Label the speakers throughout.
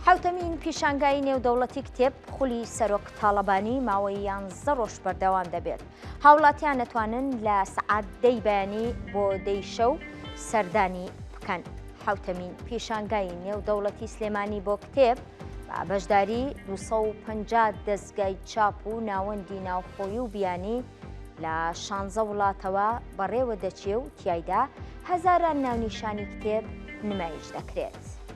Speaker 1: حەوتەمین پیشانگای نێودەوڵەتی کتێب خولی سەرۆک تاڵەبانی ماوەی یانزدە ڕۆژ بەردەوام دەبێت هاوڵاتیان نەتوانن لە سەعات دەی بەیانی بۆ دەی شەو سەردانی بکەن حوتەمین پیشانگای نێودەوڵەتی سلێمانی بۆ کتێب بەشداری 250 دەستگای چاپ و ناوەندی ناوخۆی و بیانی لە شانزە وڵاتەوە بەڕێوە دەچێ و تایدا هەزاران ناونیشانی کتێب نمایش دەکرێت.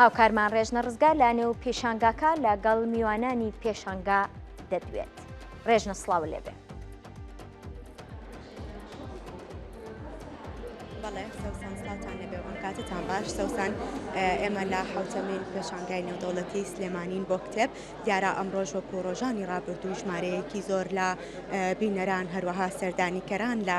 Speaker 1: هاوکارمان ڕێژنە ڕزگار لە نێو پێشانگاکە لە گەڵ میوانانی پێشانگا دەدوێت ڕێژنە سلااو
Speaker 2: لێبێ کاتتان باش سەوسان ئێمە لە حوتەمین پێشانگای نێودەوڵەتی سلێمانین بۆ کتێب دیارە ئەمڕۆژ وەک و ڕۆژانی ڕابردوو ژمارەیەکی زۆر لە بینەران هەروەها سەردانیکەران لە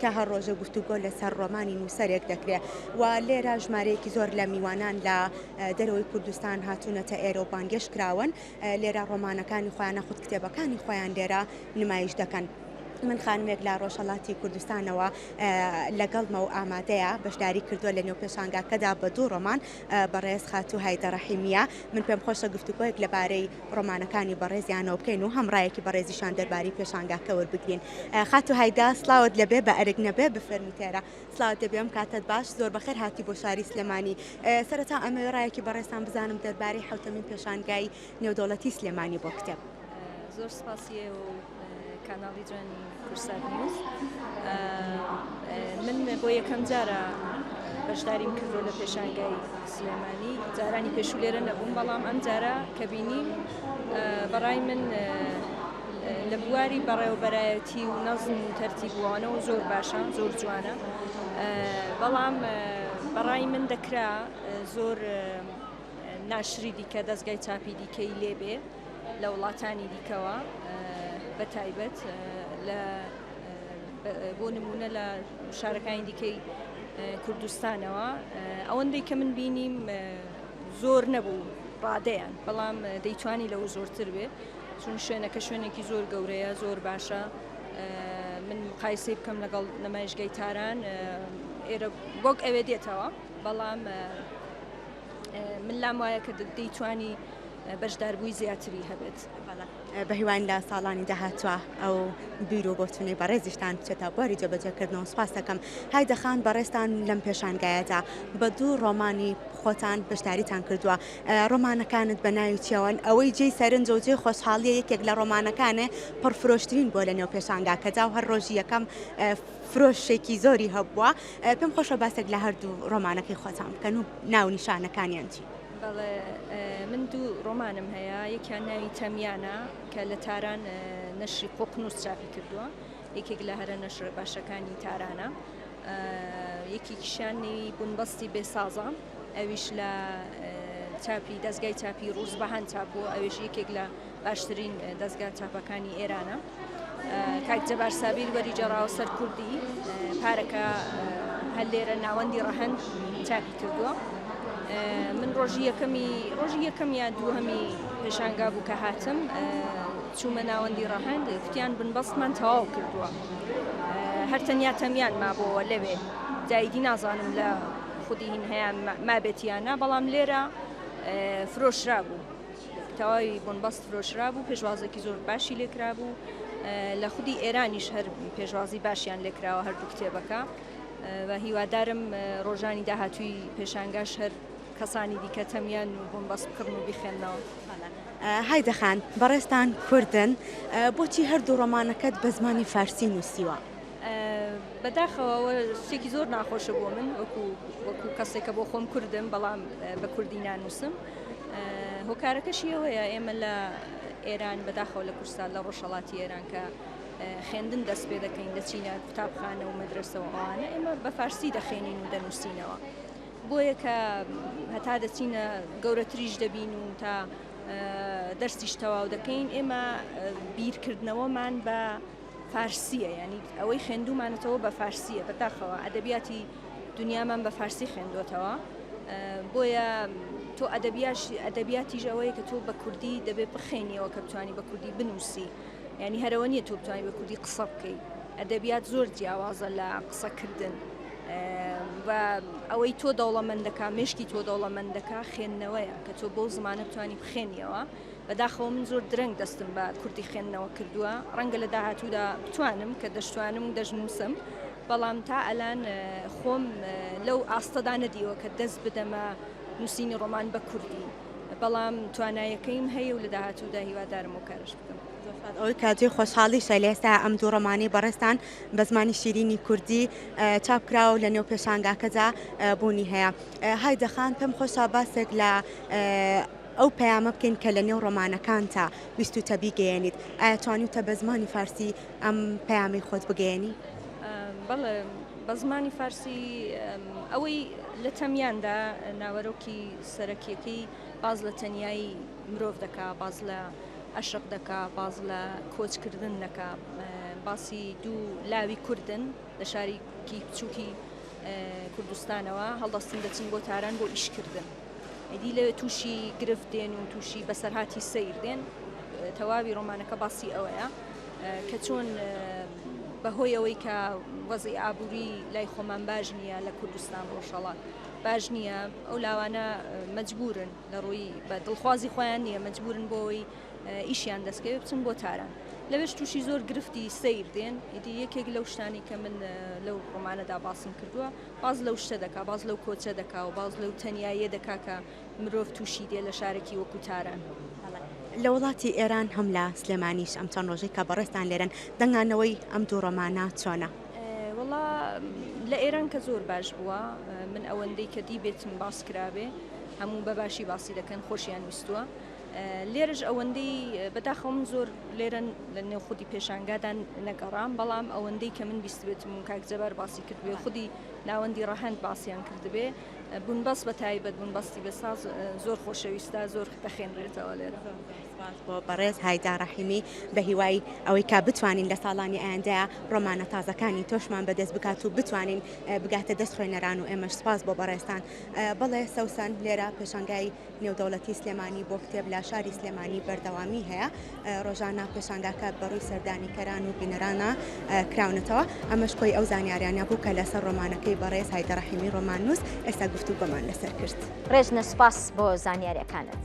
Speaker 2: کە هەر ڕۆژە گفتوگۆ لەسەر ڕۆمانی نووسەرێک دەکرێ و لێرە ژمارەیەکی زۆر لە میوانان لە دەرەوەی کوردستان هاتوونەتە ئێرە و بانگێش کراون لێرە ڕۆمانەکانی خۆیان نەخود کتێبەکانی خۆیان لێرە نمایش دەکەن. من خانمێک لە ڕۆژهەڵاتی کوردستانەوە لەگەڵمە و ئامادەیە بەشداری کردووە لە نێو پێشانگاکەدا بە دوو ڕۆمان بەڕێز خاتوو هایدە ڕەحیمیە، من پێم خۆشە گفتوگۆیەک لەبارەی ڕۆمانەکانی بەڕێزیانەوە بکەین و هەم ڕایەکی بەڕێزیشان دەربارەی پێشانگاکە وەربگرین. خاتوو هایدە، سڵاوت لەبێ بە ئەرک نەبێ بفەرموو تێرە. سڵاوت لەبێ بم کاتت باش، زۆر بەخێر هاتی بۆ شاری سلێمانی. سەرەتا ئەمەوێ ڕایەکی بەڕێزتان بزانم دەربارەی حەوتەمین پێشانگای نێودەوڵەتی سلێمانی بۆ کتێب. زۆر سوپاسی
Speaker 3: ئێوە و کاناڵی جوانی کوردسات نیوز. من بۆ یەکەم جارە بەشداریم کردو لە پێشانگای سلێمانی جارانی پێشوو لێرە نەبووم بەڵام ئەم جارە کە بینیم بەڕای من لە بواری بەڕێوەبەرایەتی و نەزم و تەرتیبوانەوە زۆر باشە زۆر جوانە بەڵام بەڕای من دەکرا زۆر ناشری دیکە دەزگای چاپی دیکەی لێ بێ لە وڵاتانی دیکەوە بە تایبەت لە بۆ نمونە لە شارەکانی دیکەی کوردستانەوە ئەوەندەی کە من بینیم زۆر نەبوو ڕادەیان بەڵام دەیتوانی لەو زۆرتر بێ چون شوێنەکە شوێنێکی زۆر گەورەیە زۆر باشە من مقایسی بکەم لەگەڵ نمایشگەی تاران ئێرە وەک ئەوێ دێتەوە بەڵام من لام وایە کە دەیتوانی بەشداربووی زیاتری هەبێت بەهیوان
Speaker 2: لە ساڵانی داهاتوە ئەو بیر و بۆچونەی بەڕێزیشتان بچێتە بواری جێبەجێکردنەوە سپاس دەکەم هایدەخان بەڕێستان لەم پێشانگایەدا بە دوو ڕۆمانی خۆتان بەشداریتان کردووە ڕۆمانەکانت بە ناوی چیەوەن ئەوەی جێی سەرنج و جێ خۆشحاڵیە یەکێک لە ڕۆمانەکانێ پڕفرۆشترین بۆ لە نێو پێشانگاکەدا و هەر ڕۆژی یەکەم فرۆشێکی زۆری هەبووە پێم خۆشە باسێک لە هەردوو ڕۆمانەکەی خۆتان بکەن و ناو نیشانەکانیان چی؟ بەڵێ
Speaker 3: من دوو ڕۆمانم هەیە یەکیان ناوی تەمیانە کە لە تاران نەشری قۆقنووس چاپی کردووە یەکێک لە هەرە نەشرە باشەکانی تارانە یەکێکیشیان نێوی بنبەستی بێسازە ئەویش لە چاپی دەستگای چاپی ڕووزبەهان چاپ بووە ئەویش یەکێک لە باشترین دەزگا چاپەکانی ئێرانە کاک جەبار سابیر وەری جەڕاو سەر کوردی پارەکە هەر لێرە ناوەندی ڕەهند چاپی کردووە من ڕۆژی یەکەمی ڕۆژی یەکەم یا دووهەمی پێشانگا بوو کە هاتم چوومە ناوەندی ڕەهند کوتیان بنبەستمان تەواو کردووە هەر تەنیا تەمیان مابەوە لەوێ جایدی نازانم لە خودی هین هەیە مابێتیانە بەڵام لێرە فرۆشرا بوو تەواوی بۆنباست فرۆشرابوو پێشوازێکی زۆر باشی لێکرابوو لە خودی ئێرانیش هەر پێشوازی باشیان لێکراوە هەردوو کتێبەکە بە هیوادارم ڕۆژانی داهاتووی پێشانگاش هەر کەسانی دیکە تەمیان و بۆم بەس بکڕن و بخێنەوە
Speaker 2: هایدەخان بەڕێستان کوردن بۆچی هەردوو ڕۆمانەکەت بە زمانی فارسی نووسیوە
Speaker 3: بەداخەوە شتێکی زۆر ناخۆشە بۆ من وەکو وەکو کەسێکە بۆ خۆم کوردم بەڵام بە کوردی نانووسم هۆکارەکەشی ئەوەیە ئێمە لە ئێران بەداخەوە لە کوردستان لە ڕۆژهەڵاتی ئێران کە خوێندن دەست پێ دەکەین دەچینە قوتابخانە و مەدرسەوە ئەوانە ئێمە بە فارسی دەخێنین و دەنووسینەوە بۆیە کە هەتا دەچینە گەورەتریش دەبین و تا دەرسیش تەواو دەکەین ئێمە بیرکردنەوەمان بە فارسیە یانی ئەوەی خوێندومانەتەوە بە فارسیە بەداخەوە ئەدەبیاتی دنیامان بە فارسی خوێندوەتەوە بۆیە تۆ ئەدەبیاش ئەدەبیاتیش ئەوەیە کە تۆ بە کوردی دەبێت بخێنیەوە کە بتانی بە کوردی بنووسی ینی هەرەوە نیە تۆ بتانی بە کوردی قسە بکەیت ئەدەبیات زۆر جیاوازە لە قسەکردن و ئەوەی تۆ دەوڵەمەندەکە مشکی تۆ دەوڵەمەندەکە خوێندنەوەیە کە تۆ بۆ زمانە بتانی بخێنیەوە بەداخەوە من زۆر درەنگ دەستم بە کوردی خوێندنەوە کردووە ڕەنگە لە داهاتوودا بتوانم کە دەشتوانم دەشنووسم بەڵام تا ئەلان خۆم لەو ئاستەدا نەدیوە کە دەست بدەمە نووسینی ڕۆمان بە کوردی بەڵام توانایەکەیم هەیە و لە داهاتوودا هیوادارم و کارش بکەم ئەوەی کاجی
Speaker 2: خۆشحاڵیشە لە ئێستا ئەم دوو ڕۆمانی بەڕێستان بە زمانی شیرینی کوردی چاپکراوە و لە نێو پێشانگاکەدا بوونی هەیە های دەخان پێم خۆشە باسێک لە ئەو پەیامە بکەین کە لە نێو ڕۆمانەکانتا ویستووتە بیگەیەنیت، ئایا توانیوتە بە زمانی فارسی ئەم پەیامەی خۆت بگەیەنی؟ بەڵێ،
Speaker 3: بە زمانی فارسی ئەوەی لە تەمیاندا ناوەرۆکی سەرەکیەکەی باس لە تەنیایی مرۆڤ دەکا، باس لە ئەشق دەکا، باس لە کۆچکردن دەکا، باسی دوو لاوی کوردن لە شارێکی بچووکی کوردستانەوە هەڵدەستن دەچن بۆ تاران بۆ ئیشکردن. ئیدی لە تووشی گرفت دێن و تووشی بەسەرهاتی سیر دێن تەواوی ڕۆمانەکە باسی ئەوەیە کە چۆن بەهۆی ئەوەی کە وەزی ئابووری لای خۆمان باش نییە لە کوردستان ڕۆژهڵات باش نییە ئەو لاوانە مجبورن لە ڕووی بە دڵخوازی خۆیان نییە مجبورن بۆی ئیشیان دەستکەوێ بچن بۆ تاران لەوێش تووشی زۆر گرفتی سیر دێن ئیدی یەکێک لەو شتانی کە من لەو ڕۆمانەدا باسم کردووە باس لەو شتە دەکا، باس لەو کۆچە دەکا و باس لەو تەنیاییە دەکا کە مرۆڤ تووشی دێ لە شارێکی وەکوو تاران. لە
Speaker 2: وڵاتی ئێران هەم لە سلێمانیش ئەم چەند ڕۆژەی کە بەڕێزتان لێرەن، دەنگانەوەی ئەم دوو ڕۆمانە چۆنە؟ وەڵا
Speaker 3: لە ئێران کە زۆر باش بووە. من ئەوەندەی کە دیبێتم باس کرابێ، هەموو بە باشی باسی دەکەن، خۆشیان ویستووە. لێرەش ئەوەندەی بەداخەوە من زۆر لێرە لە نێو خودی پێشانگادان نەگەڕام بەڵام ئەوەندەی کە من بیستێتم و کاک جەبار باسی کردبێ خودی ناوەندی ڕەهەند باسییان کردبێ بوون بەس بە تایبەت بوون بەستی بە ساز زۆر خۆشەویستە زۆر دەخێنرێتەوە لێرە بۆ بەڕێز
Speaker 2: هایدا ڕەحیمی بە هیوای ئەوەی کا بتوانین لە ساڵانی ئایندە ڕۆمانە تازەکانی تۆشمان بەدەست بکات و بتوانین بگاتە دەست خوێنەران و ئێمەش سپاس بۆ بەڕێستان بەڵێ سەوسان لێرە پێشانگای نێودەوڵەتی سلێمانی بۆ کتێب لە شاری سلێمانی بەردەوامی هەیە ڕۆژانە پێشانگاکە بەڕووی سەردانیکەران و بینەرانە کراونەتەوە ئەمەش کۆی ئەو زانیاریانە بوو کە لەسەر ڕۆمانەکەی بەڕێز هایدەڕەحیمی ڕۆماننووس
Speaker 1: ئێستا
Speaker 2: گفتوگۆمان لەسەر
Speaker 1: کرد
Speaker 2: ڕێژنە
Speaker 1: سوپاس
Speaker 2: بۆ
Speaker 1: زانیاریەکانت.